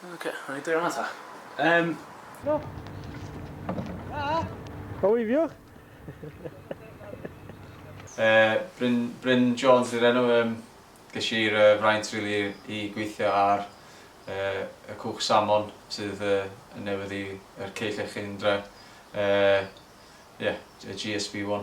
Ok, rhaid i ddweud ta. Um... No. Ah. How are you? uh, Bryn, Bryn Jones i'r enw. Um, ges i'r uh, fraint really, i gweithio ar uh, y cwch salmon sydd uh, yn newydd i'r ceill eich un dre. Uh, yeah, GSB1.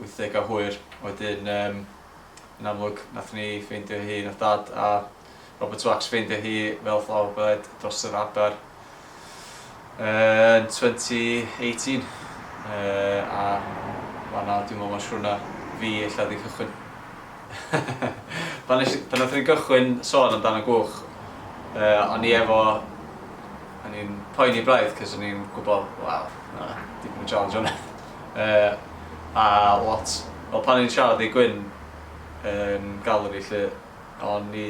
wythdegau hwyr. Wedyn yym yn amlwg nathon ni ffeindio hi, nath Dad a Robert Wax ffeindio hi fel flower bed dros yr adar yn 2018 yy a fan'na dwi'n me'wl ma' siwrna fi ella 'di cychwyn. Pan nes i pan nathon ni gychwyn sôn amdan y gwch yy o'n i efo o'n i'n poeni braidd 'c'os o'n i'n gwbo waw ma' 'na dipyn o challenge yna. Yy a lot o pan o'n siarad i Gwyn yn Galeri 'lly o'n i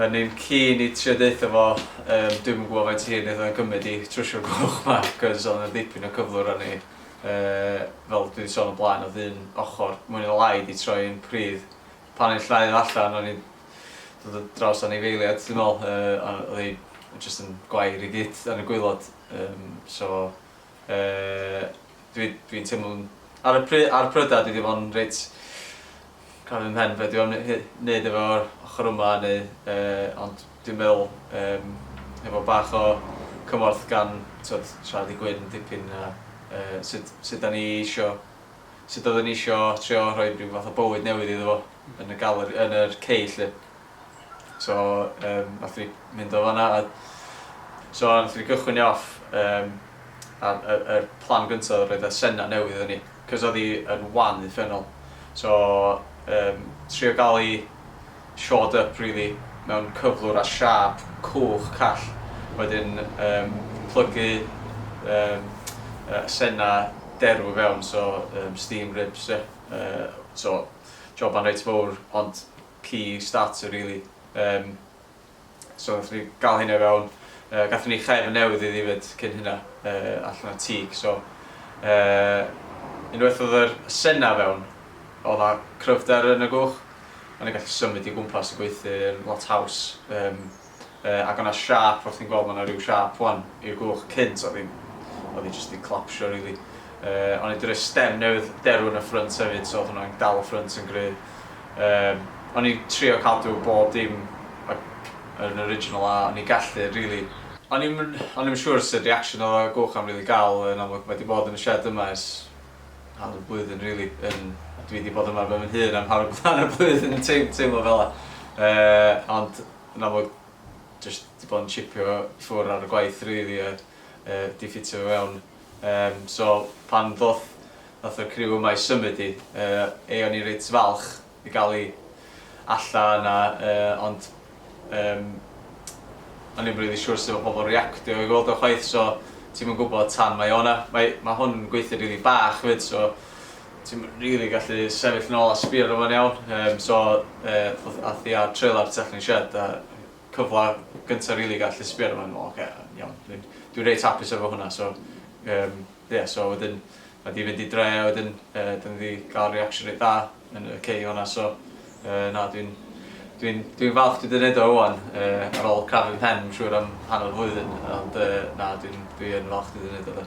o'n i'n keen i trio deutha fo yym dwi'm yn gwbo faint hir neith o gymyd i trwsio'r gwch 'ma cos o'dd 'na dipyn o cyflwr arni yy fel dwi 'di sôn o blaen o'dd un ochor mwy ne lai 'di troi yn pridd pan o'n i'n llnau o allan o'n i'n dod ar draws anifeiliad dwi me'wl yy a o'dd 'i jyst yn gwair i gyd yn y gwilod yym so Yy dwi dwi'n teimlo'n... Ar y pry- ar y prydau dydy fo'n reit crafu ym mhen be' dwi am ne- he- neud efo'r ochor yma neu yy ond dwi'n meddwl yym hefo bach o cymorth gan t'wod siarad i Gwyn dipyn a yy sut sut 'dan ni isio sut oedden ni isio trio rhoid ryw fath o bywyd newydd iddo fo yn y galeri yn yr cei 'lly. so um, nath ni mynd o fanna a so nath ni gychwyn ni off um, ar y, y plan gyntaf oedd roedd y sena newydd yn ni cos oedd hi yn wan uffernol so um, trio gael i shored up really mewn cyflwr a siap cwch call wedyn um, plygu um, uh, sena derw fewn so um, steam ribs yeah. uh, so joban reit fawr ond key starter really yym so nathon ni ga'l hynna i fewn yy gathon ni chefn newydd iddi efyd cyn hynna yy allan o teak so yy unwaith odd yr y senna fewn odd a cryfder yn y gwch o'n i'n gallu symud i gwmpas y gweithiyn lot haws yym yy ag o'na siâp fel chdi'n gweld ma' 'na ryw siâp ŵan i'r gwch cynt o'dd hi'n o'dd hi jyst 'di collapsio rili yy o'n i 'di roi stem newydd derw yn y ffrynt hefyd so o'dd hwnna'n dal y ffrynt yn gry' yym o'n i'n trio cadw bob dim yy yn original a o'n i'n gallu rili. O'n i'm yn o'n i'm yn siŵr sut reaction o'dd y gwch am rili ga'l yn amlwg mae 'di bod yn y shed yma ers hanner blwyddyn rili yn dwi 'di bod yma ben fy hun am hanner hanner blwyddyn yn teim- teimlo fela yy ond Yn amlwg jyst 'di bod yn chipio i ffwr ar y gwaith rili a yy 'di ffitio fi fewn. Yym so pan ddoth nath y criw yma i symud i yy ei o'n i reit falch i ga'l i allan a yy ond yym o'n i'm rili siŵr sut ma' pobol yn reactio i weld o chwaith so ti'm yn gwbod tan mae o 'na. Mae ma' hwn yn gweithio rili bach 'fyd so Ti'm rili gallu sefyll yn ôl a sbio arno fo'n iawn yym so yy ath hi a'r trailer tu allan i'r shed a cyfle gynta rili i gallu sbio arno fo'n ocê iawn dwi'n dwi reit hapus efo hwnna so yym ie so wedyn ma' 'di fynd i dre a wedyn yy 'dyn ni 'di ga'l reaction reit dda yn y cei honna so yy na dwi'n dwi'n dwi'n falch dwi 'di neud o ŵan yy ar ôl crafu'm mhen siŵr am hanner flwyddyn ond yy na dwi'n dwi yn falch dwi 'di neud o 'de.